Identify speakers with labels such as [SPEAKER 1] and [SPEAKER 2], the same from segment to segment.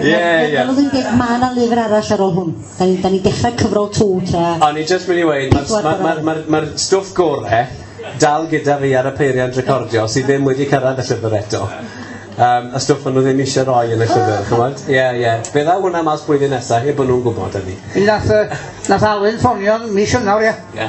[SPEAKER 1] Ie, ie. Fel oedd yn deg, mae
[SPEAKER 2] yna lyfr arall ar ôl hwn. Da ni'n ni, ni dechrau cyfrol tŵ tra... O'n i just mynd i weid,
[SPEAKER 1] mae'r ma, ma, ma, ma stwff gore dal gyda fi ar y peiriant recordio sydd ddim wedi cyrraedd y llyfr eto. Um, y stwff maen nhw ddim eisiau rhoi yn y llyfr, chymod? Ie, ie. Fe dda hwnna mas blwyddyn nesaf, heb bod nhw'n gwybod hynny. Nath, uh, nath
[SPEAKER 3] Alun ffonio'n mis ynawr, ie? Ie.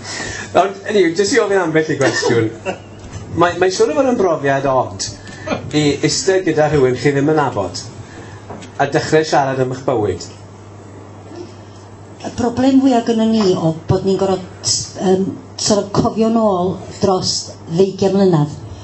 [SPEAKER 1] Nawr, anyway, jyst i ofyn ambell i gwestiwn. Mae, mae siwr o fod yn brofiad od i eistedd gyda rhywun chi ddim yn nabod a dechrau siarad am eich bywyd.
[SPEAKER 2] Y broblem fwyaf gyda ni o bod ni'n gorfod um, sort of cofio'n ôl dros 20 mlynedd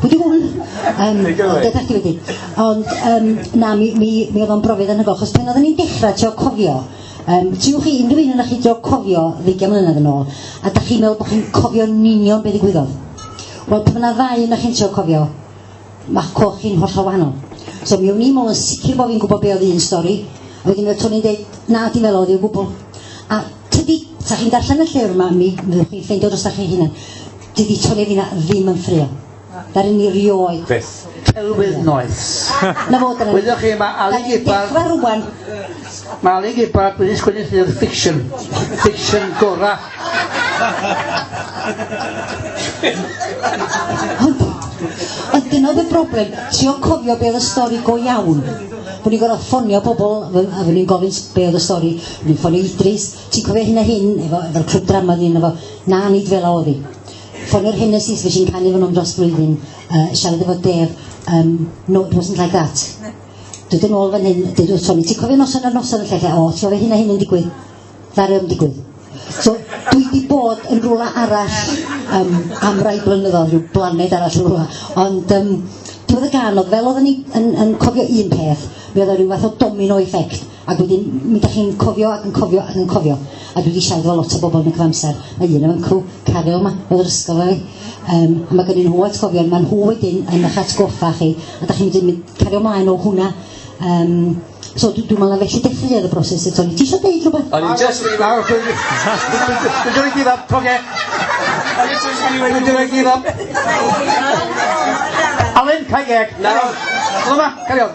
[SPEAKER 2] Pwy di hwn? Um, Dydach chi wedi. Ond, um, na, mi, mi, mi oedd o'n brofiad yn hyfo, chos pan oedden ni'n dechrau trio cofio, um, tiwch chi, unrhyw un yna chi trio cofio ddeugain mlynedd yn ôl, a da chi'n meddwl bod chi'n cofio union beth i gwyddodd. Wel, pan yna ddau yna chi'n trio cofio, mae'ch coch chi'n hollol wahanol. So mi o'n i'n meddwl yn sicr bod fi'n gwybod be oedd un stori, a wedyn oedd Tony'n dweud, na, ti'n meddwl oedd i'w gwbl. A tydi, sa chi'n darllen y llyfr yma, mi fyddwch chi'n ffeindio dros da chi hunain. Dydi Tony Fina ddim yn ffrio. Dar yn ni rioed. Beth? Celwydd
[SPEAKER 1] noeth.
[SPEAKER 3] Na fod yna.
[SPEAKER 2] Wyddoch chi, mae Ali
[SPEAKER 3] Gibbard... Dechrau rwan.
[SPEAKER 2] Mae Ali
[SPEAKER 3] Gibbard wedi sgwini llyfr fiction. Fiction gora.
[SPEAKER 2] Ond, ond dyna oedd y broblem. Ti o'n cofio beth y stori go iawn. Bod ni'n gorfod ffonio bobl a fy ni'n gofyn beth oedd y stori. Ni'n ffonio Idris. Ti'n cofio hyn a hyn, efo, efo'r clwb drama oedd un efo, na, nid fel a oedd hi. Ffonio'r Hennessys, fe sy'n canu efo nhw'n dros blwyddyn, uh, siarad efo Dev, um, no, it wasn't like that. Dwi'n dyn ôl fan hyn, dydw Tony, ti'n cofio noson ar noson y lle lle, o, ti'n cofio hyn a hyn yn digwydd? Ddari o'n digwydd. So, dwi wedi bod yn rhywle arall um, am rai blynyddoedd, rhyw blaned arall yn rhywle. Ond um, diwedd y gan, oedd fel oedden ni yn, yn cofio un peth, mi oedd o rhyw fath o domino effect. Ac wedyn, mi da chi'n cofio ac yn cofio ac yn cofio. A dwi wedi siarad efo lot o bobl yn y cyfamser. Mae un o'n cw, Caryl yma, oedd yr ysgol ei. Um, mae gen nhw atgofion, mae nhw wedyn yn eich atgoffa chi. A da chi'n mynd cario mlaen o hwnna. Um, so dwi'n dwi meddwl felly dechreuodd y broses y Tony. Ti eisiau deud rhywbeth? O'n i'n just... Dwi'n dweud gyd up, coge. O'n i'n just anyway, dwi'n dweud gyd up.
[SPEAKER 1] Alun, cael geg.
[SPEAKER 3] Nawr. Dyma, cario.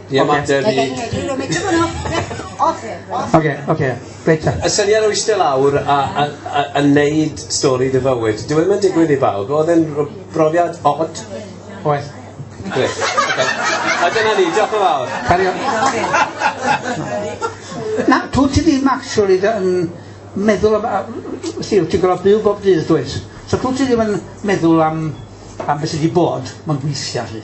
[SPEAKER 1] Ie, mae'n dweud
[SPEAKER 3] ni... Oce, oce, reit ta. Y syniad o eistedd lawr
[SPEAKER 1] a a a a wneud stori dy fywyd, dyw e ddim yn digwydd i bawb, oedd e'n r- brofiad od? Oedd. Grêt,
[SPEAKER 3] oce.
[SPEAKER 1] A dyna ni, diolch yn fawr. Carry on.
[SPEAKER 3] Na, dw ti ddim actually dy- yn meddwl am a- wsti, wyt ti'n gorfod byw bob dydd dwyt? So dw ti ddim yn meddwl am am be sy 'di bod, ma'n weithia 'lly.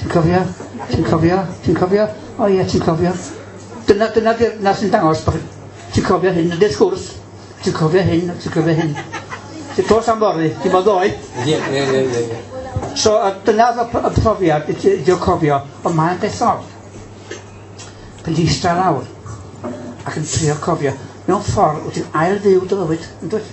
[SPEAKER 3] Ti'n cofio? Ti'n cofio? Ti'n cofio? O ie, ti'n cofio? Dyna, dyna, dyna sy'n dangos bod ti'n cofio hyn, ydy'r sgwrs. Ti'n cofio hyn, ti'n cofio hyn. Ti'n tos am fori, ti'n bod ddoe? Ie,
[SPEAKER 1] ie, ie,
[SPEAKER 3] ie. So, dyna y profiad, ti'n cofio, ond mae'n dethol. Pan ti'n eistedd lawr, ac yn trio cofio, mewn ffordd wyt ti'n ail fyw dy fywyd, yn dwyt?